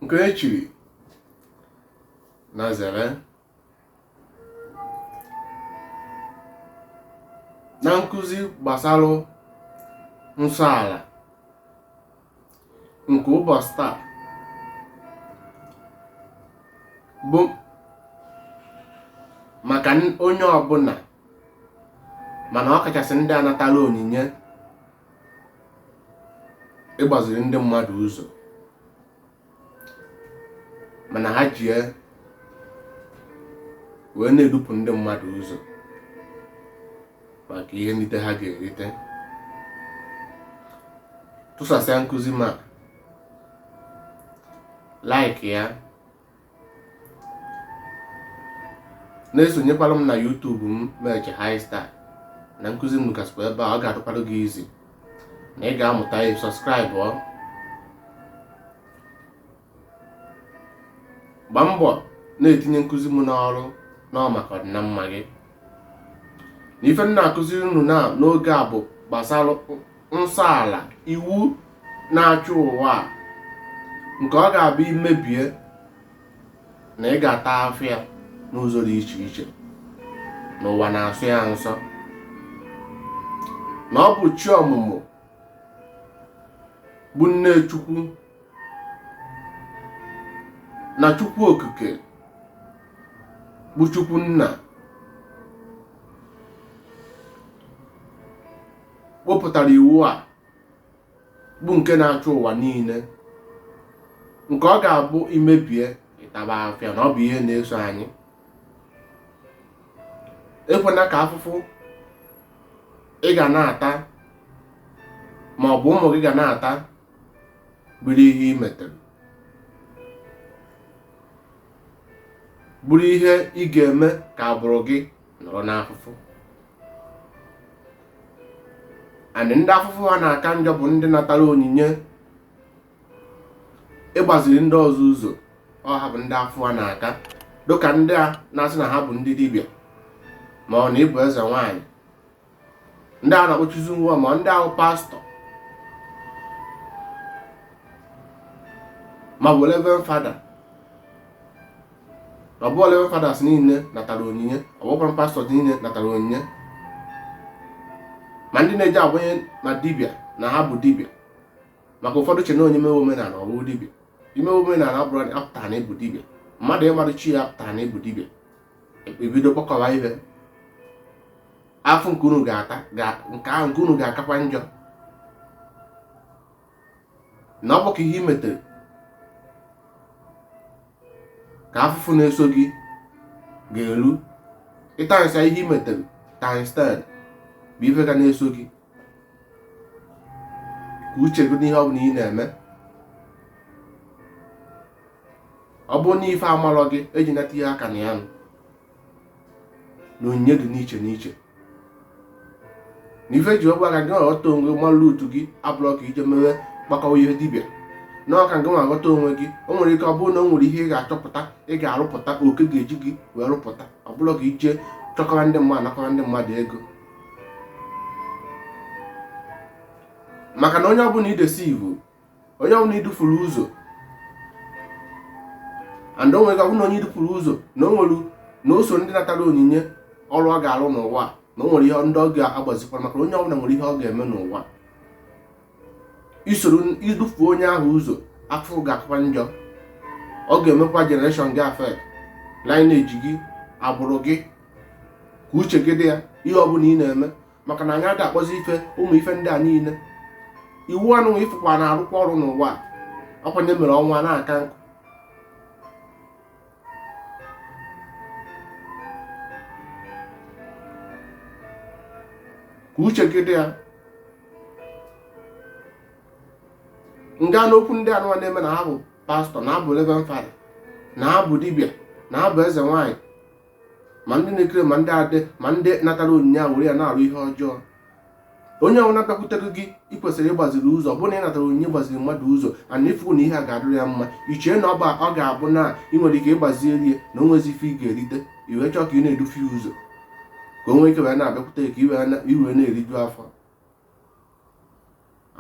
nke e chiri na zere na nkụzi gbasara nsọ ala nke ụbọchị taa bụ maka n- onye ọbụla mana ọ kachasị ndị a natara onyinye ịgbaziri ndị mmadụ ụzọ mana ha jie wee na-edupụ ndị mmadụ ụzọ maka ihe nrite ha ga-erite tụsasịa nkụzi ma like ya na-esonyekwara m na YouTube m meche high star na nkụzi m gasịkwa ebe a ọ ga-adịkwara gị easy na ị ga-amụta ya subscribe ọ gbaa mbọ na-etinye nkụzi m n'ọrụ na ọ maka ọdịna mma gị na ife m na-akụziri unu na n'oge a bụ gbasara nsọ ala iwu na-achị ụwa a nke ọ ga-abụ i mebie na ị ga-ata afịa n'ụzọ dị iche iche n'ụwa na-asọ ya nsọ na ọ bụ chi ọmụmụ bụ nne chukwu na chukwu okike bụ chukwu nna wepụtara iwu a bụ nke na-achị ụwa niile nke ọ ga-abụ i mebie ị taba afịa na ọ bụ ihe na-eso anyị ekwena ka afụfụ ị ga na-ata ma ọ bụ ụmụ gị ga na-ata bụrụ ihe i metere bụrụ ihe ị ga-eme ka agbụrụ gị nọrọ n'afụfụ and ndị afụfụ ha na-aka njọ bụ ndị natara onyinye ịgbaziri ndị ọzọ ụzọ ọ ha bụ ndị afụfụ ha na-aka dịka ndị a na-asị na ha bụ ndị dibịa ma ọ na ị bụ eze nwaanyị ndị a na-ekpuchizi ya ma ndị ahụ pastor ma bụ reverend father ọ bụ reverend fathers niile natara onyinye ọ bụkwa pastor niile natara onyinye ma ndị na-eji agbanye na dibịa na ha bụ dibịa maka ụfọdụ che na onye mewe omenala ọ bụ dibịa imewe omenala abụrọ apụtarọ na ị bụ dibịa mmadụ ịmarụ chi ya apụtarọ na ị bụ dibịa ebido kpọkọba ibe afụfụ nke unu ga-ata nke ahụ nke unu ga-akakwa njọ na ọ bụ ka ihe i metere ka afụfụ na-eso gị ga-eru ị timesia ihe i metere times 10 bụ ife ga na-eso gị ka uche gị n'ihe ọbụla ị na-eme ọ bụrụ na ife amarọ gị eji nata ihe aka na ya nụ na onyinye dị n'iche n'iche na ife ji agwa ka gị ghọta onwe gị malụ otu gị ọ bụrọ ka i je mewe kpakọwa ihe dibịa na ọ ka gị nwa ghọta onwe gị o nwere ike ọ bụrụ na o nwere ihe ị ga-achọpụta ị ga-arụpụta oke ga-eji gị wee rụpụta ọ bụrọ ka i je chịkọrọ ndị mmadụ nakọrọ ndị mmadụ ego maka na onye ọbụla idesi iwu onye ọbụla i dufuru ụzọ and o nwere ike ọ bụ na onye i dufuru ụzọ na o nwere na o so ndị natara onyinye ọrụ ọ ga-arụ n'ụwa na o nwere ihe ndị ọ ga-agbazikwara maka na onye ọbụla nwere ihe ọ ga-eme n'ụwa isoro idufu onye ahụ ụzọ afụfụ ga-akakwa njọ ọ ga-emekwa generation gị affect lineage gị agbụrụ gị ka uche gị dị ya ihe ọbụla ị na-eme maka na anyị ada akpọzi ife ụmụ ife ndị a niile iwu anụwa ifụkwa na-arụkwa ọrụ n'ụwa a ọkwa onye mere ọnwa na-aka nkụ ka uche gị dị ya nga n'okwu ndị anụwa na-eme na ha bụ pastọ na ha bụ reverend fada na ha bụ dibịa na ha bụ eze nwaanyị ma ndị na-ekiri ma ndị adị ma ndị natara onyinye a were ya na-arụ ihe ọjọọ onye ọbụla bịakwutere gị ị kwesịrị ịgbaziri ụzọ bụ na ị natara onyinye gbaziri mmadụ ụzọ and ị fụ na ihe a ga-adịrị ya mma i chee na ọba ọ ga-abụ na ị nwere ike ịgbaziere ya na o nwezi ife ị ga-erite i wee chọọ ka ị na-edufu ya ụzọ ka o nwee ike wee na-abịakwute ka i wee na-eriju afọ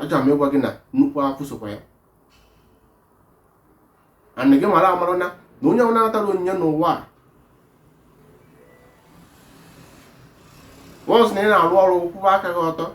achọrọ m ịgwa gị na nnukwu afụfụ sokwa ya and gị mara amara na na onye ọbụla natara onyinye n'ụwa a once na ị na-arụ ọrụ kwụwa aka gị ọtọ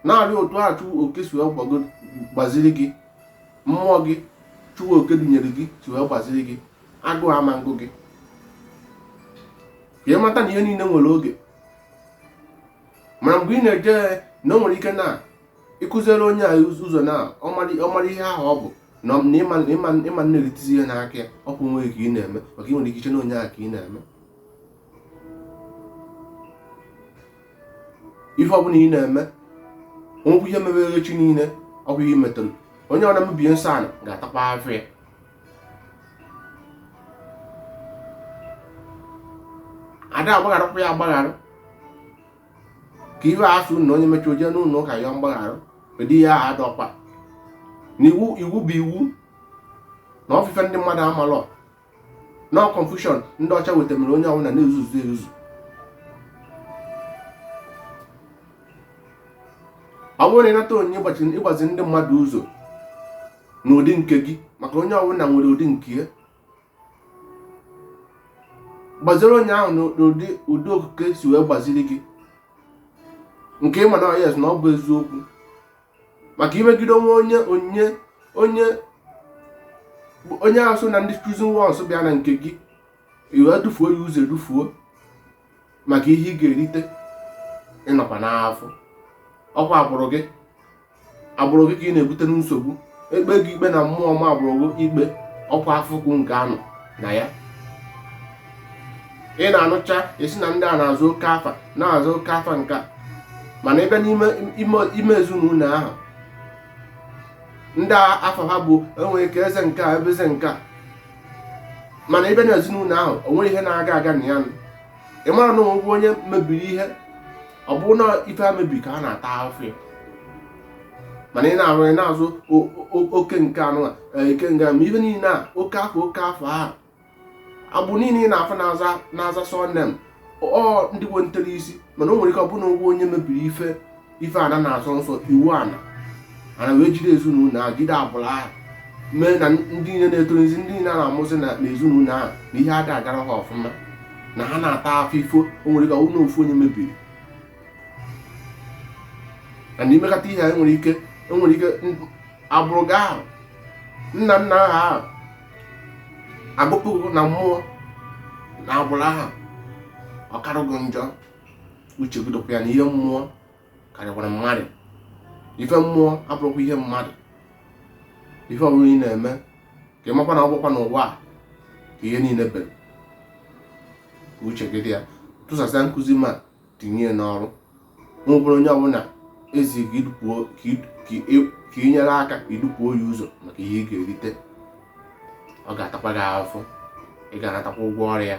na-arụ otu a chukwu oke si wee gbago- gbaziri gị mmụọ gị chukwu oke dunyere gị si wee gbaziri gị agụụ ama ngụ gị ka ị mata na ihe niile nwere oge mana mgbe ị na-eje na o nwere ike na ịkụziere onye a ụzọ na ọ mara ihe ahụ ọ bụ na ịma nne gị tizi ihe n'aka ya ọ bụ onwe gị ka ị na-eme maka ị nwere ike iche na onye ahụ ka ị na-eme ife ọbụla ị na-eme onwekwu ihe mebere echi niile ọ bụ ihe metụrụ onye ọbụna mebie nsọ ala ga-atakwa afụfụ ya ada agbagharakwa ya agbaghara ka ife a sị na onye mechaa o je n'ụlọ ụka yọọ mgbaghara ụdị ihe ahụ adịrọkwa na iwu iwu bụ iwu na ọ bụ ife ndị mmadụ amalọ na ọ bụ confusion ndị ọcha wetara mere onye ọbụla na-ezuzu ezuzu ọ bụrụ na ị nata onyinye ịgbazi ndị mmadụ ụzọ n'ụdị nke gị maka onye ọbụla nwere ụdị nke ya gbaziri onye ahụ n'ụdị ụdị okike si wee gbaziri gị nke ị ma na yes na ọ bụ eziokwu maka imegide onwe onye onye onye onye ahụ so na ndị chosen ones bịa na nke gị i wee dufuo ya ụzọ edufuo maka ihe ị ga-erite ị nọkwa n'afụfụ ọkwa agbụrụ gị agbụrụ gị ka ị na-ebute nsogbu e kpee gị ikpe na mmụọ ọ maa agbụrụ gị ikpe ọkwa afụfụ nke a nọ na ya ị na-anụcha a sị na ndị a na-aza oke afa na-aza oke afa nke a mana ebe n'ime ime ezinụlọ ahụ ndị afa ha bụ e nwere ike eze nke a ebe eze nke a mana ebe na ezinụlọ ahụ o nwee ihe na-aga aga na ya ị mara na o nwe onye mebiri ihe ọ bụrụ na ife ha mebiri ka ha na-ata afụfụ ya mana ị na-arụ ị na-aza oke nke anụ e, ike nga ma ife niile a oke afa oke afa ahụ agbụrụ niile ị na-afụ na-aza na-aza surname ọ ndị nwe ntere isi mana o nwere ike ọ bụrụ na o nwe onye mebiri ife ife ana na-asọ nsọ iwu ana ana wee jide ezinụlọ ahụ jide agbụrụ ahụ mee na ndị niile na-etorozi ndị niile a na-amụzi na ezinụlọ ahụ na ihe ada agara ha ọfụma na ha na-ata afụfụ ife o nwere ike ọ bụrụ na ofu onye mebiri na ị mekata ihe anyị nwere ike e nwere ike agbụrụ gị ahụ nna nna ha ahụ agụpụ gị na mmụọ na agbụrụ ahụ ọ kara gị njọ uche gị dịkwa ya na ihe mmụọ karịkwara mmadụ ife mmụọ abụrọkwa ihe mmadụ ife ọbụla ị na-eme ka ị makwa na ọ bụrọkwa n'ụwa a ka ihe niile bere ka uche gị dị ya tụsasịa nkụzi ma tinye ya n'ọrụ ọ bụrụ onye ọbụla e zi ka i nyere aka i dufuo ya ụzọ maka ihe ị ga-erite ọ ga-atakwa gị afụfụ ị ga-anatakwa ụgwọ ọrụ ya